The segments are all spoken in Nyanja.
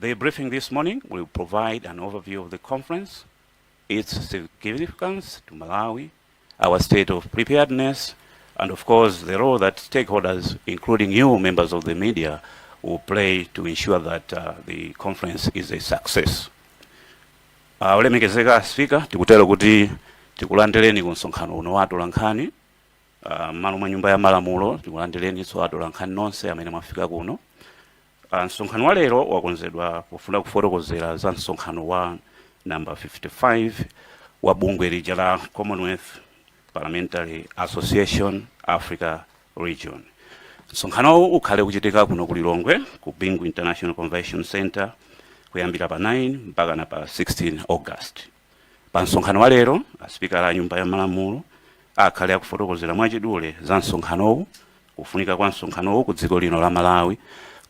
The briefing this morning will provide an overview of the conference, its significance to Malawi, our state of preparedness, and of course, the role that stakeholders, including you, members of the media, will play to ensure that uh, the conference is a success. Uh, olemekezeka a Sipika tikutero kuti tikulandireni ku msonkhano uno wa atolankhani uh, mmalo mwa nyumba ya malamulo tikulandireninso atolankhani nonse amene mwafika kuno a Msonkhano wa lero wakonzedwa pofuna kufotokozera za msonkhano wa number 55 wa bungwe lija la Commonwealth Parliamentary Association Africa Region. Msonkhanowu ukhale kuchitika kuno ku Lilongwe ku Bingu International Convention Center kuyambira pa 9 mpaka na pa 16 August. Pa msonkhano wa lero, a Sipika a Nyumba ya Malamulo akhale akufotokozera mwachidule za msonkhanowu, kufunika kwa msonkhanowu ku dziko lino la Malawi,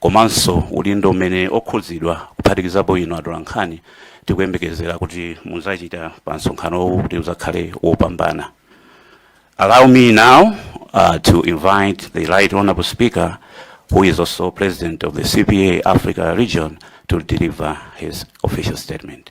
komanso udindo umene okhudzidwa kuphatikizapo inu atolankhani tikuyembekezera kuti muzachita pa msonkhanowu kuti uzakhale wopambana. Allow me now uh, to invite the Right Honorable Speaker, who is also President of the CPA Africa region, to deliver his official statement.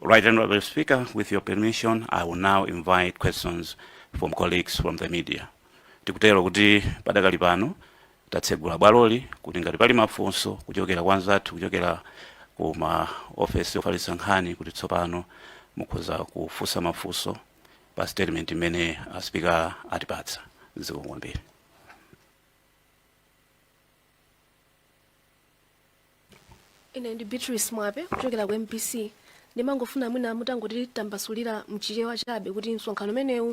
Right Honourable Speaker, with your permission, I will now invite questions from colleagues from the media. Tikutero kuti padakali pano tatsegula bwaloli kuti ngati pali mafunso kuchokera kwa anzathu kuchokera ku ma ofesi ofalitsa nkhani kuti tsopano mukhoza kufunsa mafunso pa statement imene a Sipika atipatsa zikomo kwambiri ine ndi beatrice mwape kuchokera ku mbc ndimangofuna mwina mutangotitambasulira mchichewa chabe kuti msonkhano umenewu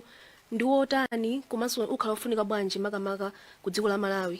ndi wotani komanso ukhala wofunika bwanji makamaka ku dziko la malawi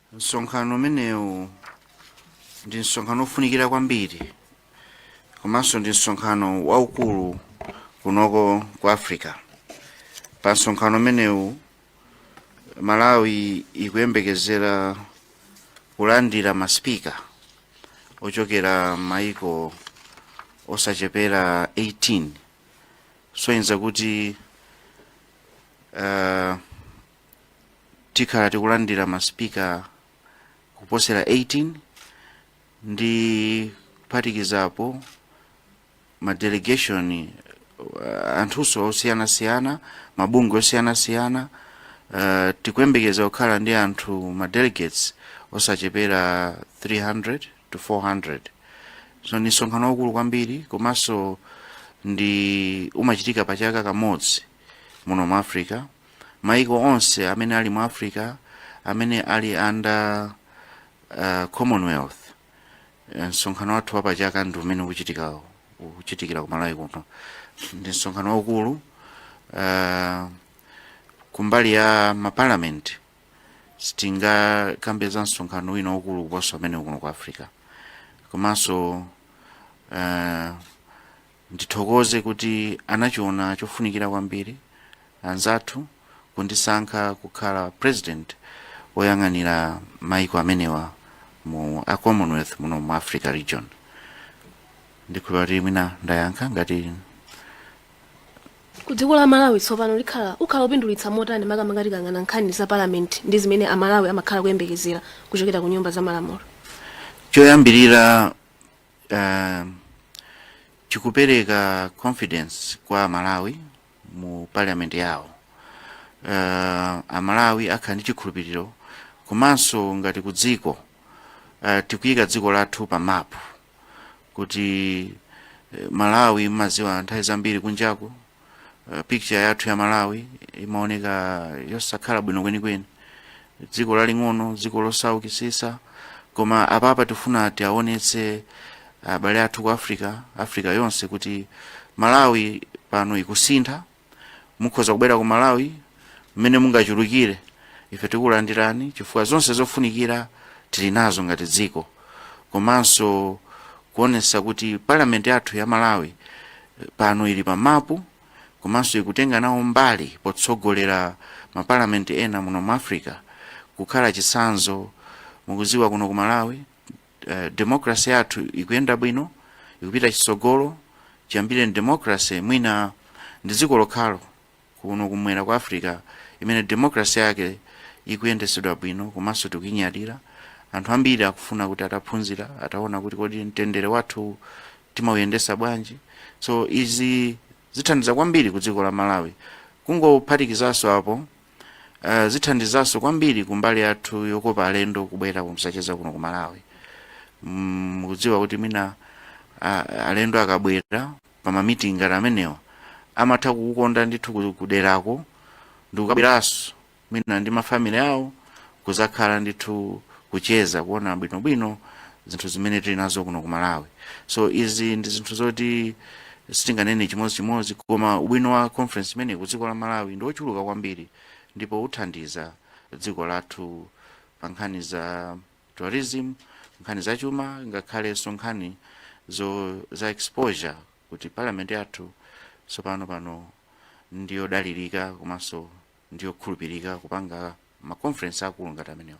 Msonkhano umenewu ndi msonkhano wofunikira kwambiri komanso ndi msonkhano waukulu kunoko ku Africa. Pa msonkhano umenewu Malawi ikuyembekezera kulandira masipika ochokera maiko osachepera 18 kusonyeza kuti uh, tikhala tikulandira masipika kuposera 18 ndi kuphatikizapo madelegation uh, anthunso osiyanasiyana mabungwe osiyanasiyana uh, tikuyembekeza kukhala ndi anthu madelegates osachepera 300 to 400 so ndi msonkhano waukulu kwambiri komanso ndi umachitika pa chaka kamodzi muno mu africa maiko onse amene ali mu africa amene ali under uh, commonwealth Eh, msonkhano wathu wapachaka ndi umene ukuchitika ukuchitikira ku malawi kuno ndi msonkhano waukulu uh, kumbali ya maparliament sitingakambe za msonkhano wina waukulu kuposa umenewu kuno ku africa komanso uh, Ndithokoze kuti anachiona chofunikira kwambiri anzathu kundisankha kukhala president oyang'anira maiko amenewa mu Commonwealth muno mu Africa region. Ndikhulupira kuti mwina ndayankha ngati. Ku dziko la Malawi tsopano likhala ukhala upindulitsa motani makamaka tikayang'ana nkhani za parliament ndi zimene a Malawi amakhala kuyembekezera kuchokera ku nyumba za malamulo? Choyambirira uh, chikupereka confidence kwa amalawi mu parliament yawo uh, amalawi akhala ndi chikhulupiriro komanso ngati ku dziko uh, tikuyika dziko lathu pa mapu kuti eh, malawi mmaziwa nthawi zambiri kunjaku uh, picture yathu ya malawi imaoneka yosakhala bwino kwenikweni dziko laling'ono dziko losaukisisa koma apapa tifuna tiaonetse abale athu ku africa africa yonse kuti malawi pano ikusintha mukhoza kubwera ku malawi mmene mungachulukire ife tikulandirani chifukwa zonse zofunikira tili nazo ngati dziko komanso kuonesa kuti parliament yathu ya malawi eh, pano ili pa mapu komanso ikutenga nawo mbali potsogolera maparliament ena muno mu africa kukhala chitsanzo mukuziwa kuno ku malawi eh, democracy yathu ikuyenda bwino ikupita chitsogolo chiyambire democracy mwina ndi dziko lokhalo kuno kumwera kwa africa imene democracy yake ikuyendesedwa bwino komanso tikuinyadira anthu ambiri akufuna kuti ataphunzira ataona kuti kodi mtendere wathu timauyendesa bwanji so izi zithandiza kwambiri ku dziko la malawi kungophatikizaso apo uh, zithandizaso kwambiri kumbali yathu yokopa alendo kubwera kuzacheza kuno ku malawi mukudziwa mm, kuti mwina uh, alendo akabwera pa ma meeting ngati amenewa amatha kukukonda ndithu ku- kuderako ndikukabweraso mwina ndi mafamily awo kuzakhala ndithu kucheza kuona bwinobwino zinthu zimene tili nazo kuno ku malawi so izi ndi zinthu zoti sitinganene chimodzichimodzi koma ubwino wa conference imeneyi ku dziko la malawi ndi wochuluka kwambiri ndipo uthandiza dziko lathu pa nkhani za tourism, nkhani za chuma ngakhalenso nkhani za exposure kuti parliament yathu tsopano pano ndiyodalirika komanso ndiyokhulupirika kupanga ma conference akulu ngati amenewa.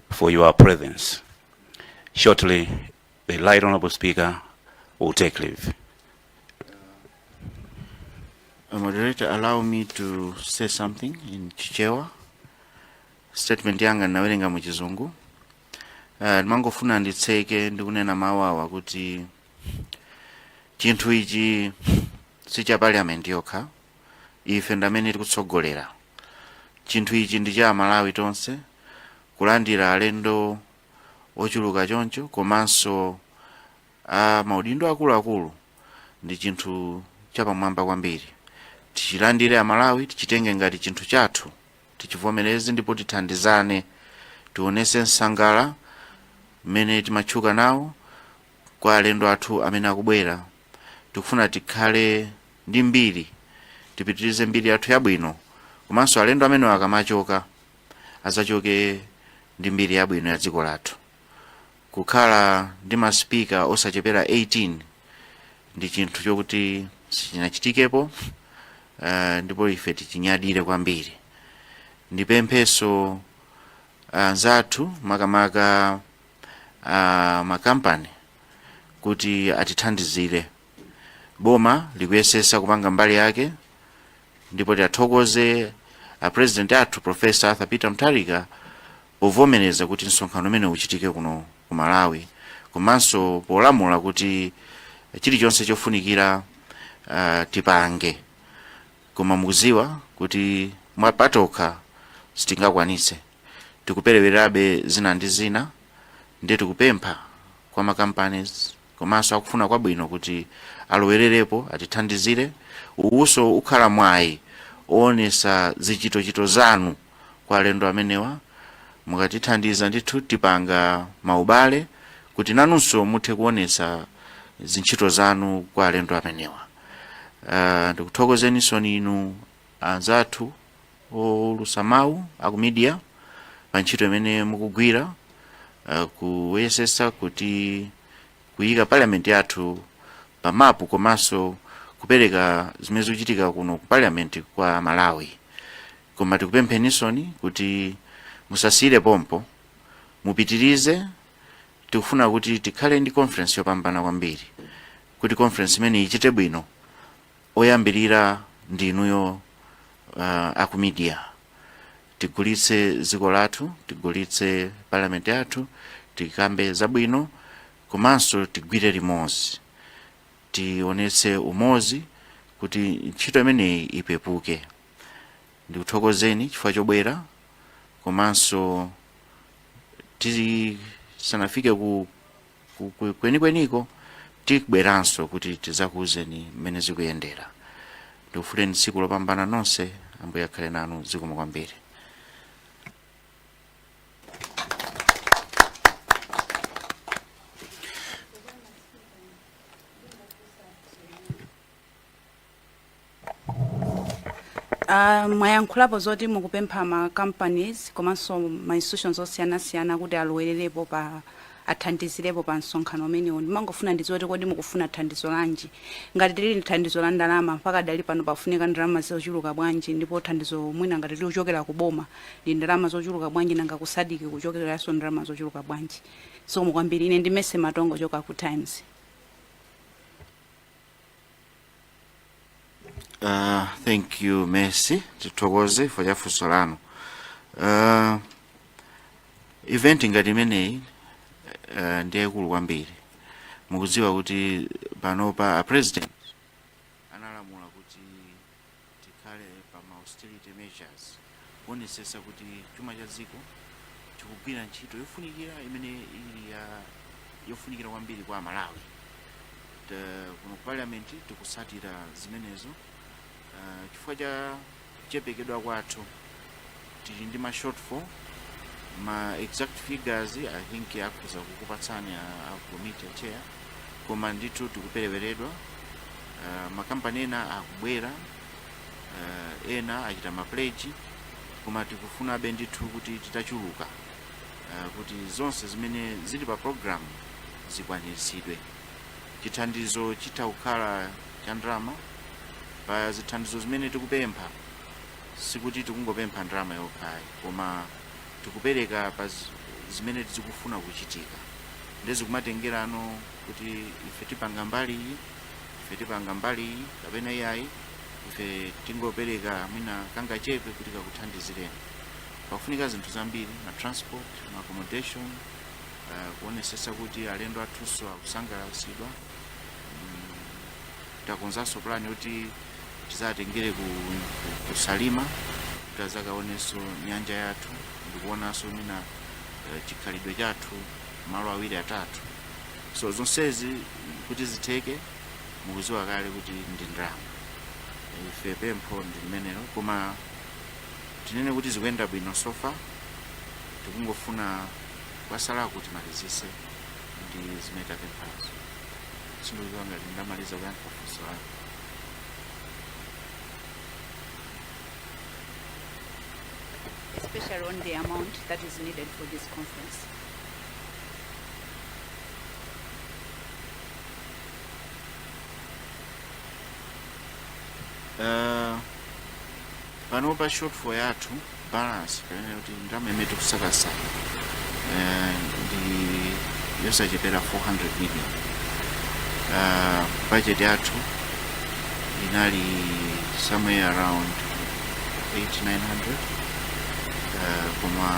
for your presence. Shortly, the Right Honorable Speaker will take leave. Uh, moderator, allow me to say something in Chichewa. Statement yanga nawerenga mu Chizungu. Uh, ndimangofuna nditseke ndikunena mawu awa kuti chinthu ichi si cha parliament yokha ife ndamene tikutsogolera chinthu ichi ndi cha amalawi tonse kulandira alendo ochuluka choncho komanso a maudindo akuluakulu ndi chinthu chapamwamba kwambiri tichilandire amalawi tichitenge ngati chinthu chathu tichivomereze ndipo tithandizane tionese nsangala umene timatchuka nawo kwa alendo athu amene akubwera tikufuna tikhale ndi mbiri tipitirize mbiri yathu yabwino komanso alendo amenewa akamachoka azachoke ndi mbiri yabwino ya dziko lathu kukhala ndi masipika osachepera 18 ndi chinthu chokuti sichinachitikepo uh, ndipo ife tichinyadire kwambiri ndipemphenso anzathu uh, makamaka uh, makampani kuti atithandizire boma likuyesesa kupanga mbali yake ndipo tiathokoze a president athu professor arthur peter mutharika povomereza kuti msonkhano umenewu uchitike kuno ku malawi komanso polamula kuti chilichonse chofunikira uh, tipange koma mukuziwa kuti mwapatokha sitingakwanitse tikuperewerabe zina ndi zina ndiye tikupempha kwa ma companies komanso akufuna kwabwino kuti alowererepo atithandizire uwuso ukhala mwayi owonesa zichitochito zanu kwa alendo amenewa mukatithandiza ndithu tipanga maubale kuti nanunso muthe kuonesa zintchito zanu kwa alendo amenewa uh, ndikuthokozeninsoni inu anzathu oulutsa mawu aku media pa ntchito imene mukugwira uh, kuyesesa kuti kuyika parliament yathu pa mapu komanso kupereka zimene zikuchitika kuno ku parliament kwa amalawi koma tikupempheninsoni kuti musasiyire pompo mupitirize tikufuna kuti tikhale ndi conference yopambana kwambiri kuti conference imeneyi ichite bwino oyambilira ndi inuyo aku media tigulitse dziko lathu tigulitse parliament yathu tikambe zabwino komanso tigwire limodzi tionetse umodzi kuti ntchito imeneyi ipepuke ndikuthokozeni chifukwa chobwera komanso tisanafike ku kwenikweniko tibweranso kuti tizakuwuzeni mmene zikuyendera ndikufunireni tsiku lopambana nonse ambuye akhale nanu zikomo kwambiri Uh, mwayankhulapo zoti mukupempha ma companies komanso ma institutions osiyanasiyana kuti alowererepo pa athandizirepo pa msonkhano umenewu ndimangofuna ndidziwe kuti kodi mukufuna thandizo lanji ngati lili thandizo la ndalama mpakadali pano pafunika ndalama zochuluka bwanji ndipo thandizo mwina ngati likuchokera ku boma ndi ndalama zochuluka bwanji nanga ku SADC kuchokeranso ndalama zochuluka bwanji zikomo kwambiri ine ndi Mercy Matonga kuchoka ku times Uh, thank you Mercy, tithokoze for funso lanu. Uh, event ngati imeneyi uh, ndi yaikulu kwambiri. Mukudziwa kuti panopa a president Tikhale pa ma austerity measures kuonetsetsa kuti chuma cha dziko chikugwira ntchito yofunikira imene ili ya yofunikira kwambiri kwa aMalawi. Kuno ku parliament tikutsatira zimenezo uh, chifukwa cha kuchepekedwa kwathu tili ndi ma shortfall ma exact figures i think akhoza kukupatsani a, a committee chair koma ndithu tikupereweredwa uh, makampani ena akubwera uh, ena achita ma pledge koma tikufunabe ndithu kuti titachuluka uh, kuti zonse zimene zili pa program zikwaniritsidwe chithandizo chitha kukhala cha ndalama pa zithandizo zimene tikupempha sikuti tikungopempha ndalama yokha ayi koma tikupereka pa zi- zimene zikufuna kuchitika nde zikumatengerano kuti ife tipanga mbali iyi ife tipanga mbali iyi kapena iyayi ife tingopereka mwina kangachepe kuti kakuthandizireni pakufunika zinthu zambiri ma transport ma accommodation uh, kuonesesa kuti alendo athunso akusangalatsidwa takonzanso plan yoti tizatengere ku, ku, ku salima kuti azakaonenso nyanja yathu ndikuonanso mina eh, chikhalidwe chathu malo awiri atatu so zonsezi kuti zitheke mukuziwa kale kuti ndi ndalama ife pempho ndi limenelo koma tinene kuti zikuyenda bwino so far tikungofuna kwasala kuti timalizise ndi zimene tapemphazo sindidziwa ngati ndamaliza kuyankha funso lanu especially on the amount that is needed for this conference. uh, panopa shortfall yathu balance kapena kuti ndalama imene tikusakasa eh, ndi yosachepera 400 million uh, budget yathu inali somewhere around 800, 900 uh, koma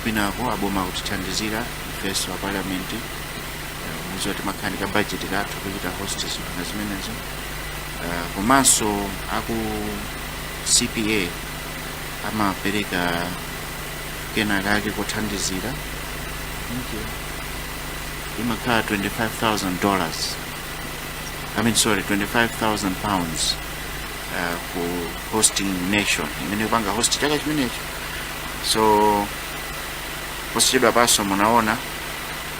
kwinako aboma akutithandizira ifenso a parliament uh, mukuziwa timakhala ndi ka budget kathu kuchita host zinthu zimenezo uh, komanso aku CPA amapereka kena kake kothandizira imakhala 25,000 dollars I mean sorry 25,000 pounds uh, ku hosting nation imene ikupanga host chaka chimenecho so posachedwapanso munaona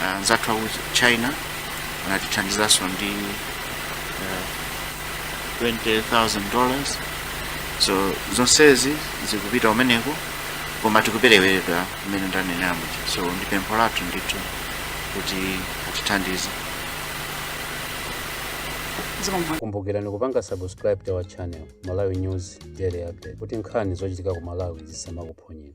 uh, anzathu aku china anatithandizanso ndi uh, 20000 dollars so zonsezi zikupita kumeneko koma tikuperewera imene ndanenamo so ndi pempho lathu ndithu kuti atithandize kumbukirani kupanga subscribe to our channel malawi news daily update kuti nkhani zochitika ku malawi zisamakuphonyeni